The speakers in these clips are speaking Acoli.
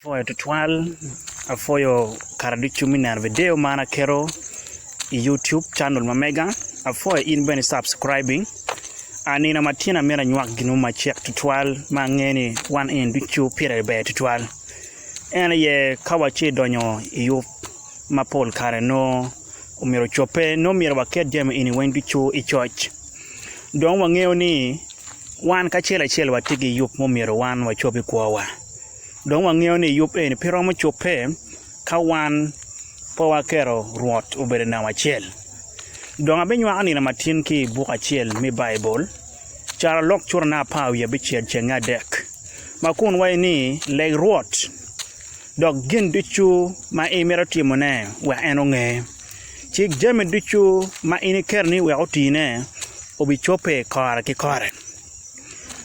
Apwoyo tutwal, apwoyo kara ducu me neno video man aketo i YouTube channel ma mega, apwoyo in bene i subscribing, a nino ma tyena myero anywak gin mo macek tutwal ma angeyo ni wan eni ducu pire ber tutwal, en aye ka watye ka donyo i yub ma pol kare nongo myero ocobbe nongo myero waket jami eni weng ducu i coc, dong wangeyo ni wan kacel acel watye ki yub ma myero wan wacob i kwowa. Dong wangeyo ni yub eni pe romo cobbe ka wan pe waketo Rwot obedo i namba acel. Dong abinywako nino ma tin ki i buk acel me Baibul, caro lok curane apar wiye bicel cenge adek, ma kun waco ni, Leg Rwot, dok gin ducu ma imito timone, wek en onge. Cik jami ducu ma in iketo ni wek otine, obicobbe kore ki kore.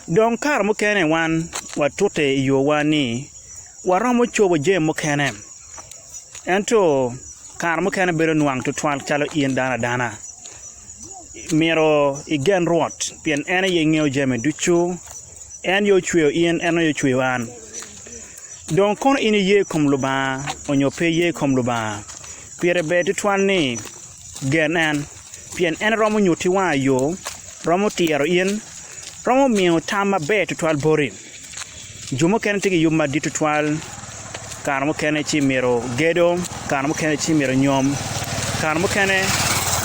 Dong kare mukene wan watute i yowa ni waromo cobo jami mukene, ento kare mukene bedo nwang tutwal calo in dano adana. Myero igen Rwot pien en aye ngeyo jami ducu, en aye ocweyo in, en aye ocweyo an. Dong kono in iye i kom Lubanga onyo pe iye i kom Lubanga, pire ber tutwal ni gen en. pien en romo nyutti wanga yo, romo tiro in, romo miyo tam maber tutwal boti. Jo mukene tye ki yub madit tutwal, kare mukene ci myero gedo, kare mukene ci myero nyom, kare mukene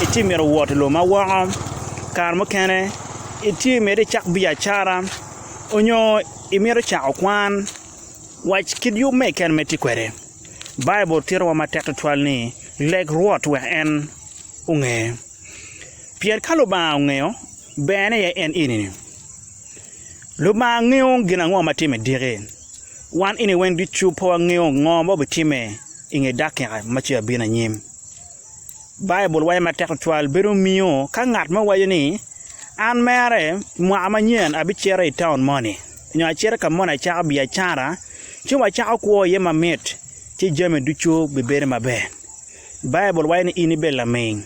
itye myero wot i lobo ma woko, kare mukene itye myero icak biacara onyo imito cako kwan. Wac kit yub me keken ma itye kwede. Baibul titowa matek tutwal ni leg Rwot wek en. onge. Pien ka Lubanga ongeyo, berne aye en ini ni. Lubanga ngeyo gin ango ma tye me diki. Wan ini weng ducu pe wangeyo ngo ma obitimme i nge dakika ma ce abino anyim. Baibul waco matek tutwal bedo miyo ka ngat mo waco ni, An mere mwaka manyen abicito i taun moni, nyo acito ka moni acako biacara ci wacako kwo iye mamit, ci jami ducu bibedo maber. Baibul waco ni in ibed laming,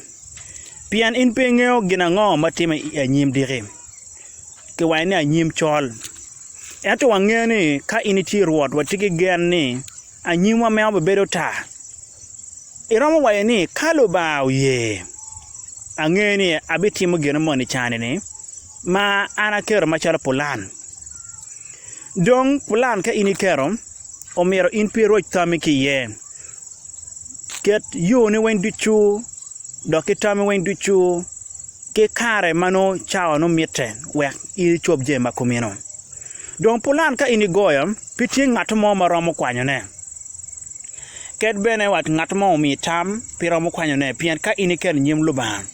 pien in pe ingeyo gin ango ma timme i anyim diki. Kiwaco ni anyim col. Ento wangeyo ni ka in itye i Rwot, watye ki gen ni anyimwa meno bibedo tar. Iromo waco ni, 'Ka Lubanga oye, angeyo ni abitimo gin moni cani-ni ma an aketo macalo pulan. Dong, pulan ka in iketo, omyero in pi iroc tammi ki iye. Ket yoni weng ducu dok ki tami weng ducu ki kare ma nongo cawa nongo mitte wek in icob jami ma kumeno. Dong pulan ka in igoyo, pe tye ngat mo ma romo kwanyone. Ket bene wa ngat mo omiyi tam, pe iromo kwanyone pien ka in iketo i nyim Lubanga,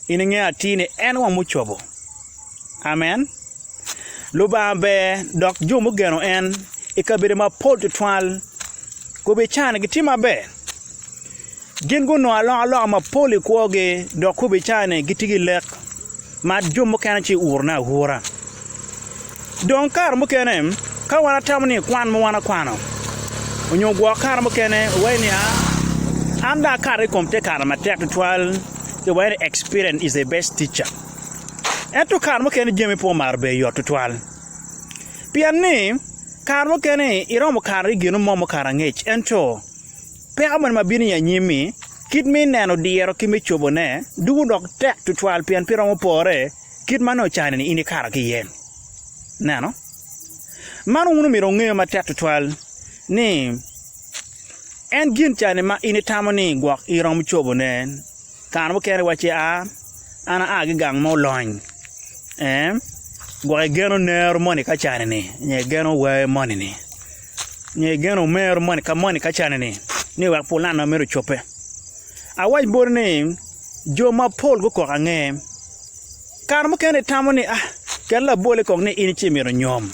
in ingeyo atir ni en weng mucobo. Amen. Lubanga ber dok jo mugeno en i kabedo mapol tutwal gubicane gitye maber. Gin gunongo alokaloka mapol i kwogi dok gubicane gitye ki lek ma jo mukene ci urone aura. Dong kare mukene ka wan watamo ni kwan ma wan wakwano onyo gwok kare mukene wawaco ni aa an dong akato i kom te kare matek tutwal ci wawaco ni experience is the best teacher. Ento kare mukene jami pe omaro bedo yot tutwal. Pien ni kare mukene iromo kare i gin mo mukato angec ento peko moni ma bino i anyim-mi kit me neno diro ki me cobone dwogo dok tek tutwal pien pe iromo pore kit ma nongo cani-ni in ikato ki iye. Ineno? Man wun omyero wungeyo matek tutwal ni en gin cani ma in itamo ni gwok iromo cobone. Kare mukene wacci a, an aa ki gang ma olony, ee, gwok igeno nero moni ka cani-ni nyo igeno wer moni-ni nyo igeno mero moni ka moni ka cani-ni ni wek pulani ma meno ocobbe. Awac boti ni jo mapol gukok ange. Kare mukene itamo ni a, ket labole kong ni in ci imito nyom.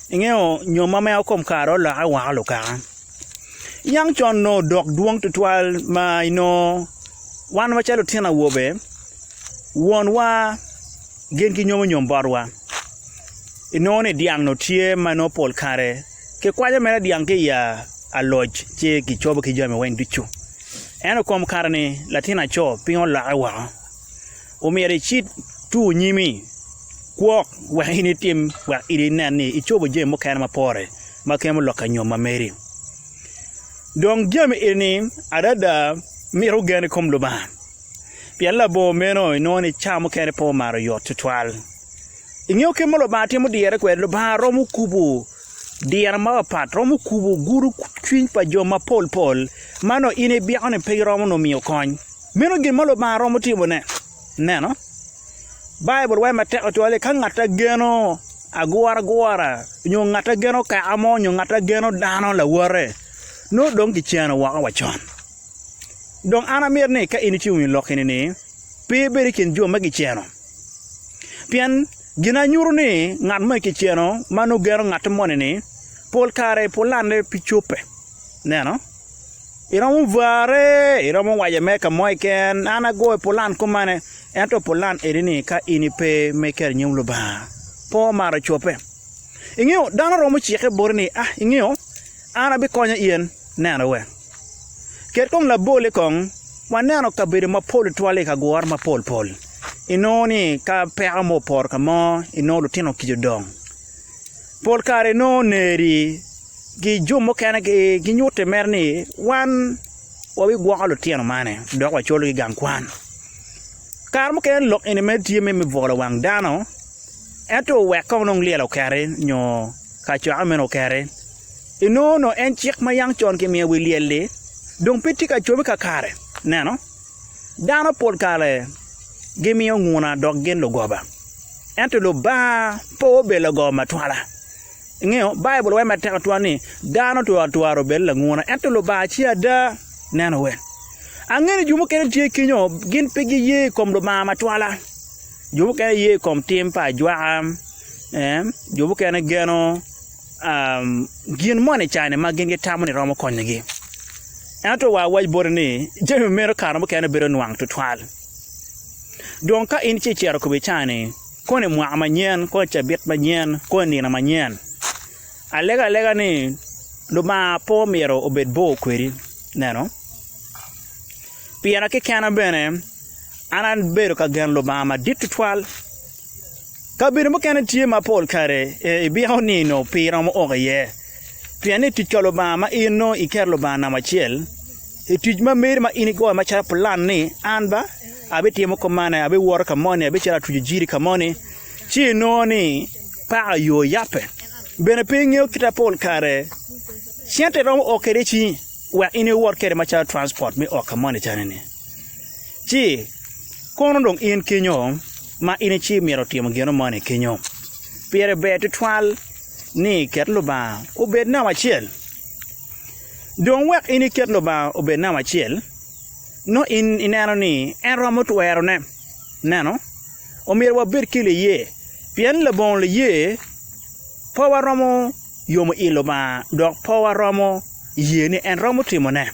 Ingeyo nyom ma mea kom kare-ni olokke woko lukaka. Niang con nongo odok dwong tutwal ma inongo wan macalo lutino awobe, wonwa gin ki nyomonyom botwa. Inongo ni dyang nongo tye ma nongo pol kare kikwanyo mere dyang ki i aloc ci kicobo ki jami weng ducu. Ento i kom kare-ni latin aco piny olokke woko. Omyero icit tur nyimi kwok wek in itim wek in inen ni icobo jami mukene ma pore ma kemo lok anyom ma meri. Dong jami eni adada mito gen i kom Lubanga, pien labongo meno inongo ni cawa mukene pe omaro oyot tutwal. Ingeyo kit ma Lubanga timo dirre kwede? Lubanga romo kubo diro mapapat, romo kubo gudo cwiny pa jo mapol pol ma nongo in ibyeko ni pe giromo nongo miyo kony. Meno gin ma Lubanga romo timone. Neno, Baibul waco matek tutwal ni ka ngat a geno aguragura nyo ngat a geno kaka mo nyo ngat a geno dano lawote, nongo dong kiceno woko wa con. Dong an amito ni ka in icung i lok eni-ni, pe ibed i kin jo ma kiceno. Pien gin a nyuto ni ngat moni kiceno ma nongo geno ngat moni-ni, pol kare pulane pe cobbe. Neno? Iromo vare iromo wace me ka mo keken an agoyo pulan kumane ento pulan eni ni ka in ipe me keto i nyim Lubanga pe omaro cobbe ingeyo dano romo cikke boti ni ah ingeyo an abikonyo in neno wek ket kong labole kong waneno kabedo mapol tutwal i kagure mapol pol inongo ni ka peko mo opoto ka mo inongo lutino kica odong. Pol kare nongo oneri ki jo mukene ginyutte mere ni wan wabigwoko lutino man dok wacologi i gang kwan. Kare mukene lok eni mere tye me bwolo wang dano ento wek kong nongo lyel okeri nyo kacokke meno okeri, inongo nongo en cik ma yam con kimiyo i wi lyel-li dong pe tye ka cobe kakare, ineno. Dano pol kare gimiyo nguna dok gin lugoba, ento Lubanga pe obedo lagoba matwala. Ingeyo, Baibul waco matek atwal ni, Dano twatwara obedo languna, ento Lubanga ce ada. Neno wel, angeyo ni jo mukene tye kenyo gin pe giye i kom Lubanga matwala. Jo mukene giye i kom tim pa ajwaka, jo mukene geno. gin moni i kare ma gin gitamo ni romo konyogi. Ento wa awac boti ni, jami meno kare mukene bedo nwang tutwal. Dong ka in ci icito kome cani, koni mwaka manyen, koni cabit manyen, koni nino manyen, alego alega ni Lubanga pe omyero obed bor kwedi, ineno. Pira kekena bene, an abedo ka geno Lubanga madit tutwal. Kabedo mukene tye ma pol kare ibiko nino pi iromo ok iye, pien i tic ka Lubanga ma in nongo iketo Lubanga namba acel i tic ma meri ma in igoyo macalo pulan ni an ba abitimo kop man, abiwoto ka moni, abicito atuco jiri ka moni ci inongo ni paka yo oyabbe. Bene pe ingeyo kite ma pol kare cente iromo oo kwede i cingi wek in iwot kwede macalo transport me oo ka moni calo ni. Ci, kono dong in kenyo, ma in icii myero timo gino moni kenyo, pire ber twatwal ni iket Lubanga obed namba acel. Dong wek in iket Lubanga obed namba acel, nongo in ineno ni en romo twerone. Ineno? Omyero wabed ki liye, pien labongo liye pe waromo yomo i Lubanga dok pe waromo ye ni en romo timone.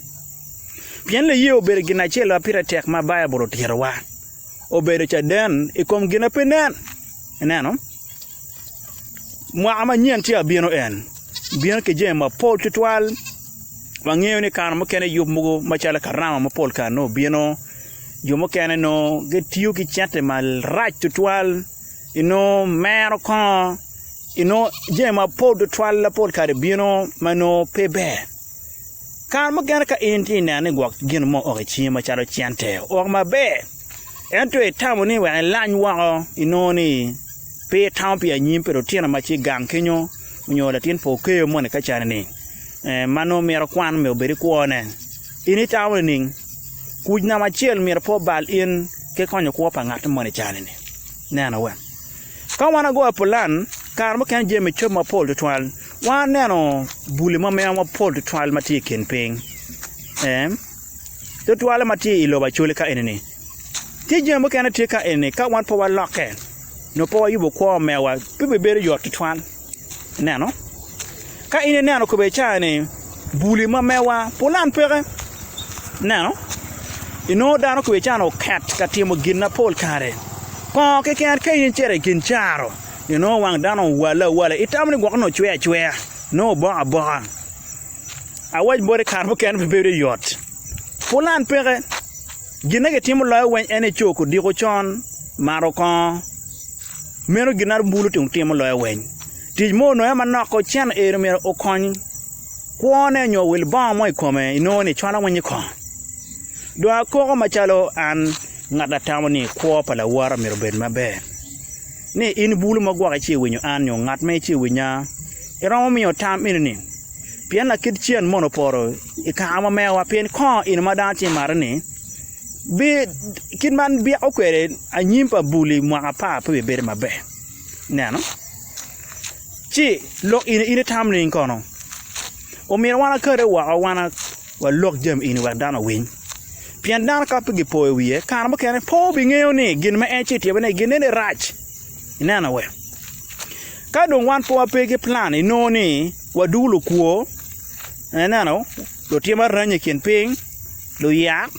Pien liye obedo gin acel ma pire tek ma Baibul otitowa, obedo caden i kom gin ma pe nen. Ineno? Mwaka manyen tye ka bino en, bino ki jami mapol tutwal. Wangeyo ni kare mukene yub mogo macalo karama mapol kare nongo bino, jo mukene nongo gitiyo ki cente marac tutwal, inongo mero kongo, inongo jami mapol tutwal lapol kare bino ma nongo pe ber. Kare mukene ka in tye ka neno ni gwok gin mo ok i cingi macalo cente ok maber, ento itamo ni wek ilany woko, inongo ni pe itamo pi anyim pa lutino ma tye i gang kenyu nyo latin pa okeyo moni ka cani-ni ma nongo mito kwan me obed ki kwone. In itamo nining? Kuc namba acel myero pe obal in ki konyo kwo pa ngat moni i cani-ni. Neno wek ka wan wagoyo pulan, kare mukene jami cob mapol tutwal. Waneno buli ma meno mapol tutwal ma tye i kin piny. Tutwalle ma tye i lobo Acholi ka eni-ni, ki jami mukene tye ka eni-ni ka wan pe walokke nyo pe wayubo kwo mewa pe bibedo yot tutwal. Ineno? Ka in ineno kobedi cawa ni buli ma mewa pulan peke, ineno, inongo dano kobedi cawa ni oket ka timo ginapol kare. Kongo keken ka in icito i gin caro, inongo wang dano owalle awala, itamo ni gwok nongo cwer acwer, nongo oboko aboka. Awac boti kare mukene pe bedo yot. Pulan peke, gin ma gitimo loyo weng en ni co kudiko con, mato kongo. Meno gin ma bulu tung timo loyo weng. Tic mo onongo aye manok ocen eni myero okony kwone nyo owil bongo mo i kome inongo ni cwalo weny i kong. Dong akoko macalo an ngat ma atamo ni kwo pa lawote myero obed maber. ni in bulu ma gwoki ci iwinyo an nyo ngat ma ici iwinya? Iromo miyo tam eni ni, Pien lakit cen mono opoto i kare ma mewa, pien kongo in ma dano tye marre ni, bi, kit ma an byeko kwede anyim pa bul i mwaka apar pe bibedo maber. Ineno? Ci lok in, in itam nining kono? Omyero wan akate woko wan walok jami eni wek dano owiny. Pien dano ka pe gipoyo wiye, kare mukene pe wubingeyo ni gin ma en ce ityebone i gin eni rac. Ineno we? Ka dong wan pe wape ki plan, inongo ni wadungu lukwo, ineno, lutim aranya i kin piny, luyak,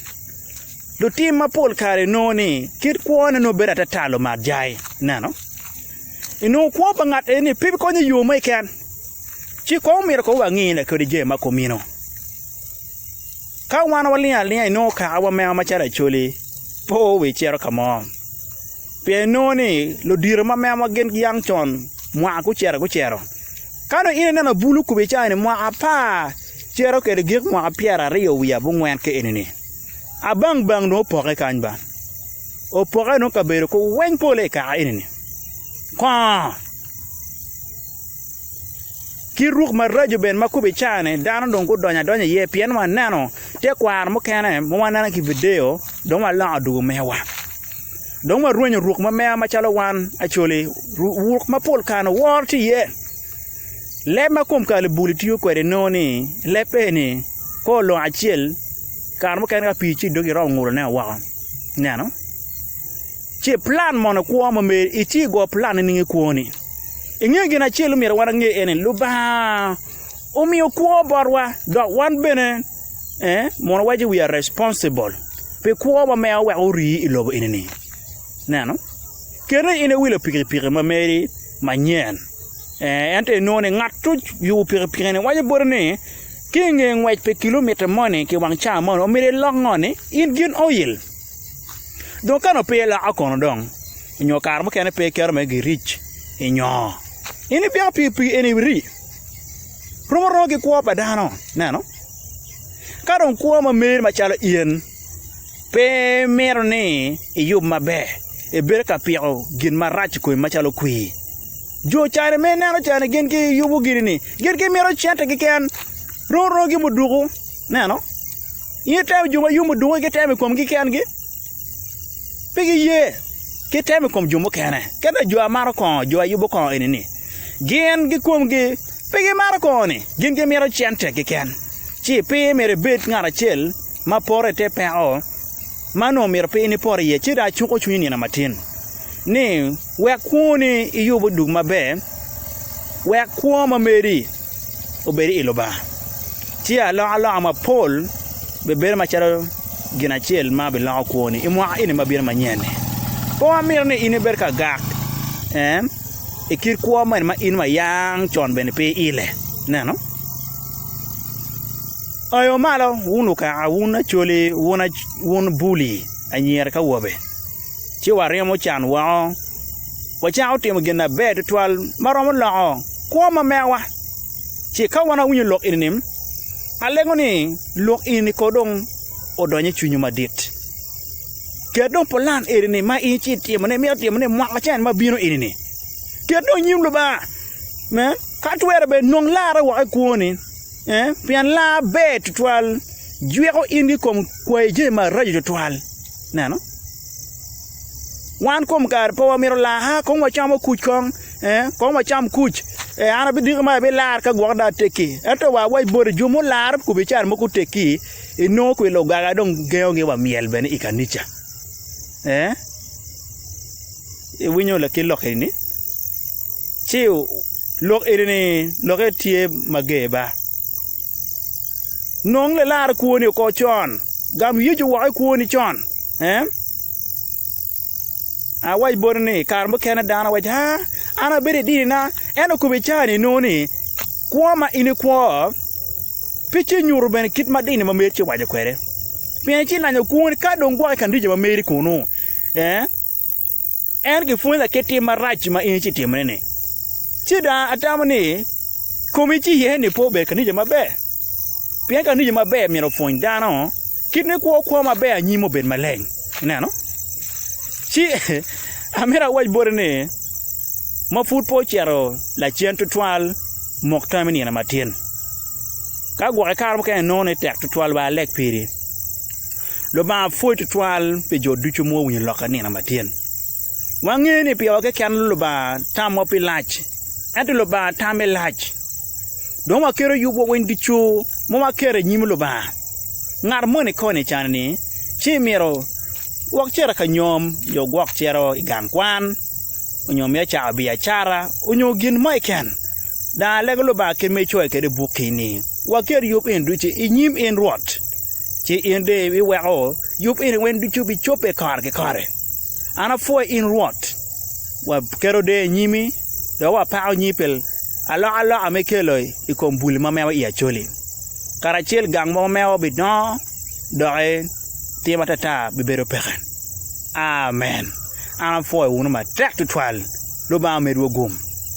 lutim ma pol kare inongo ni kit kwone nongo bedo atata lumak jai. Ineno? Inongo kwo pa ngat eni pe bikonye i yo mo keken. Ci kong omyero kong wangine kadi jami ma kumeno. Ka wan walingo alinga inongo kaka wameo macalo Acholi pe owe cito ka mo pien inongo ni ludito ma memowa gin giyang con mwaka gucito gucito ka dong in ineno bulu okubo icawa ni mwaka apar cito kwede gik mwaka pyeraryo wiye abongwen ka eni-ni abang bang dong opokke kany ba opokke dong kabedo weng polle i kaka eni-ni kongo Kit ruk maraco bene ma kome car-ni dano dong gudonyo adonya iye pien waneno tekwaro mukene ma waneno ki i vidio dong waloko dwogo mewa dong warwenyo ruk ma meya macalo wan Acholi ruk ma pol kare-ni woro tye iye leb ma kom kalubuli tiyo kwede nongo ni leb eni ka olongo acel kare mukene ka pii tye idoggi iromo ngutone woko ineno. Ci iplan mono kwo mo mer, iti i gwo plan nining i kwoni? Ingeyo gin acel ma omyero wan wange ene, Lubanga omiyo kwo botwa dok wan bene mono waco we are responsible pi kwo ma meo wek ori i lobo enini. Ineno? Kene in iwilo pikipiki ma meri manyen, ento inongo ni ngat ma oyubo pikipiki-ni waco boti ni ki inge ngwec pi kilomita moni ki wang ca moni omyero ilok ngoni, in gin oil. Dong ka nongo pe iloko kono dong nyo kare mukene pe iketo me giric i nyoo, in ipiko pi pi en irii romo romo ki kwo pa dano ineno, ka dong kwo ma meri macalo in pe mito ni iyub maber ibedo ka piko gin marac i komi macalo kwir, jo cani ma ineno cani gin giyubo gini-ni gin gimito cente keken romo romo ki muduku ineno. In itemo jo ma yomo dunge ki temo i komgi kengi? Pe giye ki temo i kom jo mukene. Ka dong jo a maro kongo, jo a yubo kongo eni-ni, gin ki komgi pe gimaro kongo-ni, gin gimito cente keken. Ci pe myero ibed ngat acel ma poto i te peko ma onongo myero pe in ipot iye. Ci dong acuko cwinyi nino matin ni, Wek kwoni iyub odug maber, wek kwo ma meri obed i Lubanga, tye alokaloka mapol bibedo macalo gin acel ma biloko kwoni i mwaka eni ma bino manyen-ni. Pe wamito ni in ibed ka gak i kit kwo mene ma in wa yang con bene pe iile. Ineno? Oyo malo, wun lukaka, wun acholi, wun buli, anyira ki awobe! ci waryemo can woko, wacako timo gin maber tutwal ma romo loko kwo ma mewawa. Ci ka wan awinyo lok eni-ni, alego ni lok eni-ni kong dong odony i cwinywu madit. Ket dong pulan eni-ni ma in ci itimone, imito timone mwaka acel ma bino eni-ni. Ket dong i nyim Lubanga, me, ka twere bene nong larre woko i kwoni, pien lar ber tutwal, jwiko in ki i kom kwayo jami maraco tutwal. Neno, wan kom kare pe wamito laa, aa kong wacamo kuc kong, ee, kong wacam kuc, ee, an abidiko ma abilar ka gwok dong atekki. Ento wa awac boti, jo mularo kome i can mo gutekki, inongo kong i lugaga dong gengogi wa myel bene i kanica. Ee, iwinyo laki lok eni-ni? Ci lok eni-ni lokke tye mager ba. Nong lilar kwoni oko con. Gam Yecu woko i kwoni con. Awac boti ni, i kare mukene dano waco ni, 'An abedo i dinina. En okobo i cawa enoni ni, 'Kwo ma in ikwo pe ci nyuto bene kit ma dini ma meri ci owaco kwede, pien icilanyo kwoni ka dong gwoko i kan rica ma meri kunnu. En gipwonya ki tim marac ma in icitimone-ni, ci dong atamo ni komi ci ye ni pe obed ka nijo maber. Pien ka nijo maber myero opwony dano kit me kwo kwo maber anyim obed maleng. Ineno? Ci amito awac boti ni, ma pud pe ocito lacen tutwal, mok tam i nino matin. Ka gwokke kare mukene inongo ni tek tutwal ba alek piri. Lubanga pwod tutwal pi jo ducu ma guwinyo lok i nino matyen. Wangeyo ni piko keken Lubanga tamwa pi lac, ento Lubanga tame lac. Dong waketo yubwa weng ducu ma waketo i nyim Lubanga. Ngat moni koni can ni ci myero wok cito i kanyom nyo gwok cito i gang kwan nyo mito cako biacara nyo gin mo keken. Dong alega Lubanga kit ma icoyo kwede i bukki ni, Waket yub eni ducu i nyim in Rwot, ci in dong iweko yub eni weng ducu bicobbe kare ki kare. An apwoyi in Rwot, waketo deyo i nyimi dok wapako nyingi pi alokaloka ma ikelo i kom bul ma mewo i Acoli. Karacel gang mo ma mewo bidongo, doki tim atata bibedo peke. Amen! An apwoyo wunu matek tutwal. Lubanga omedwu gum.